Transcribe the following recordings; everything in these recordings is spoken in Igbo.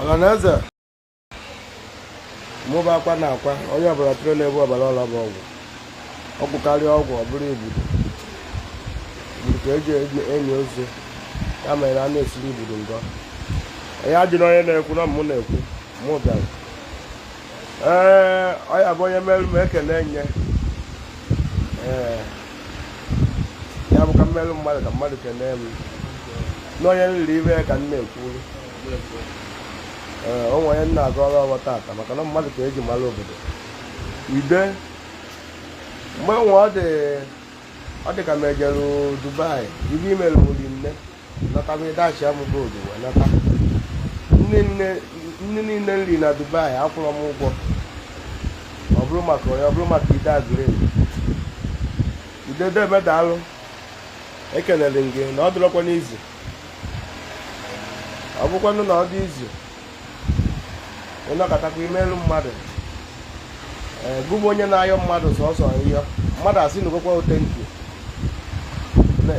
ọhaneze mụ bụ akwa na akwa onye ọbụla tụrụ na-ebu ọbara ọla bụ ọgwụ ọgwụ karịa ọgwụ ọ bụrụ igbudu igbudu ka eji eni ozu ya mere a na-esiri igbudu ngọ onye ajụ na onye na-ekwu na mụ na-ekwu mụ bịara ee ọ ya bụ onye melụ m ekele nye ee ya bụ ka emelụ mmadụ ka mmadụ kelee m n'onye m riri ive ka m na-ekwuru ee o nwere onye nna aga ọrụ ọrụ tata maka na mmadụ ka eji mara obodo ide mgbe nwe ọ dị ọ dị ka m ejere dubai ive i melu m rinne nata wee dashịa m gold wee nata nni niile m ri na dubai akwụrọ m ụgwọ ọ bụrụ maka onye ọ bụrụ maka ide agụrụ egwu ide deme daalụ ekelere m gị na ọ dịrọkwa nụ easy ọ bụkwanụ na ọ dị easy ị nọkatakwa i melu mmadụ ee gụbụ onye na-ayọ mmadụ sọsọ yọ mmadụ asị na ụgwọkwa o thank you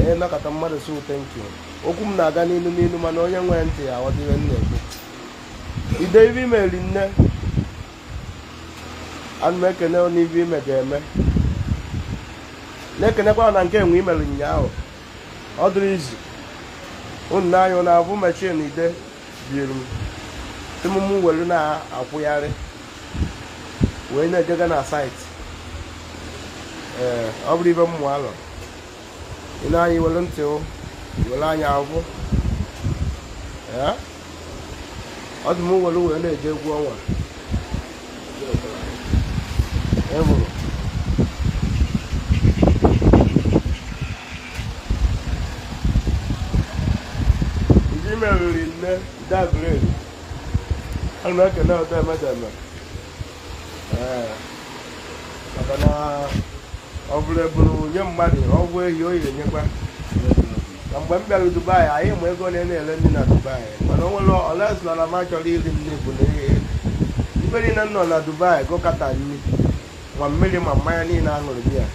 ị nọkata mmadụ sị o thank you okwu m na-aga n'ilu n'ilu mana onye nwee ntị ya ọdịre m na-ekwu ide ive i mere rinne ana m ekene n'ive ime ga-eme na-ekenekwa na nke enwe imere ụnyaahụ ọ dịrọ easy unu anya na-avụ machine ide butere m mụ were na-akwụgharị wee na-ejega na site ee ọ bụrụ ive m malụ ị na-anya were ntị were anya avụ ọ dị m were wee na-eje egwu ọnwa enwere ndị mere rinne dabere ana m ekene deme deme maka na ọ bụrụ eburu nye mmadụ ọgwụ ehi o yiri nyekwa na mgbe m bịara dubai anyị ma ego na na-ele nni na dubai mana o nwere restaurant m achọrọ iri nri bụ na ive niile m nọ na dubai gụkọta nri ma mmiri ma mmanya niile aṅụrụ biya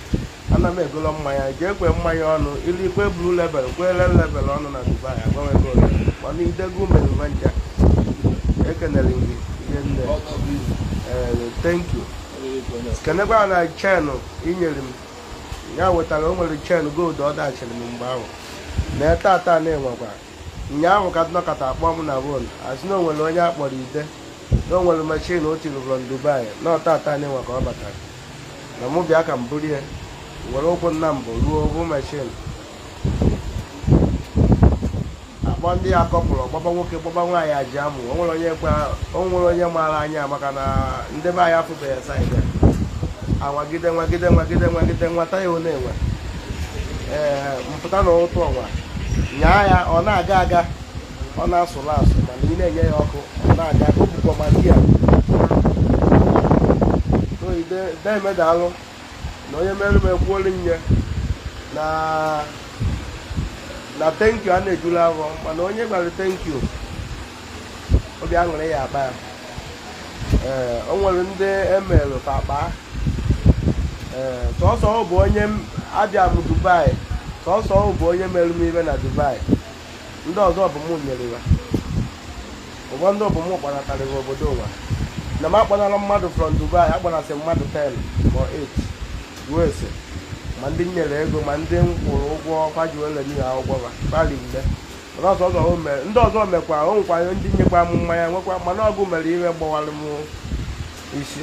ana m egolo mmanya jee kwe mmanya ọnụ ilu ikwe blue label kwe red label ọnụ na dubai agbanwe ego ole mana idego umerume ncha ekenere gị rinne ee thank you kenekwa na chain i nyere m ya wetara o nwere chain gold ọ dashịrị m mgbe ahụ na tata na-enwekwa ụnyaahụ ka m nọkata akpọ m na phone asị na o nwere onye akpọrọ ide na o nwere machine ọ tụrụ from dubai na ọ tata na-enwe ka ọ batara na mụ bịa ka m buru ya were ụkwụ nna mbụ ruo ọ vụ mashin a kpọ ndị ya kọpụrụ gbaba nwoke gbaba nwaanyị ajụa mụ o nwere onye gwa o nwere onye maara anya maka na ndị be anyị afụbeghị ya saịdị a. anwagide nwagide nwagide nwagide nwata ya ọ na-enwe ee m pụta na ụtụtụ ọnwa nyaa ya ọ na-aga aga ọ na-asụrụ asụ mana ị na-enye ya ọkụ ọ na-aga ọ bụ ka m sị ya deme daalụ na onye mere m ekwuolu nye na na thank you ana-ejulu afọ mana onye a gwara thank you obi aṅụrị ya akpa ya ee o nwere ndị e melụ ka akpa ee sọsọ ọ bụ onye m- abịa m dubai sọsọ ọ bụ onye mere m ife na dubai ndị ọzọ bụ mụ nyere ya ụfọdụ bụ mụ kpanatarịrị obodo ụwa na m akpanara mmadụ from Dubai akpanasị mmadụ 10 ma 8 ruo ese ma ndị nyere ego ma ndị m kwụrụ ụgwọ ọkwa ji wele nye ha ụgwọ ha kpali mgbe mana ọzọ ọzọ o mere ndị ọzọ mekwa o nwekwa ndị nyekwa m mmanya nwekwa mana ọgụ mere ihe gbawara m isi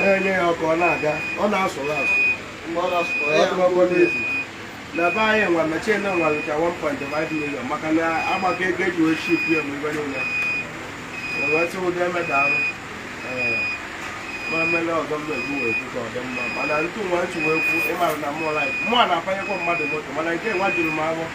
na-enye ya ọkụ ọ na-aga ọ na-asụrụ asụ na be anyị nwa mashin a nwa lucha 1.5 million maka na a gbakọ ego e ji wee ship ya mgbe ife niile wee sị deme daalụ ma mele ọzọ mba egbu wee kwu ka ọ dị mma mana ntụ nwa nchi wee kwu ị mara na mụọ na-apanyekwa mmadụ moto mana nke nwa juru m afọ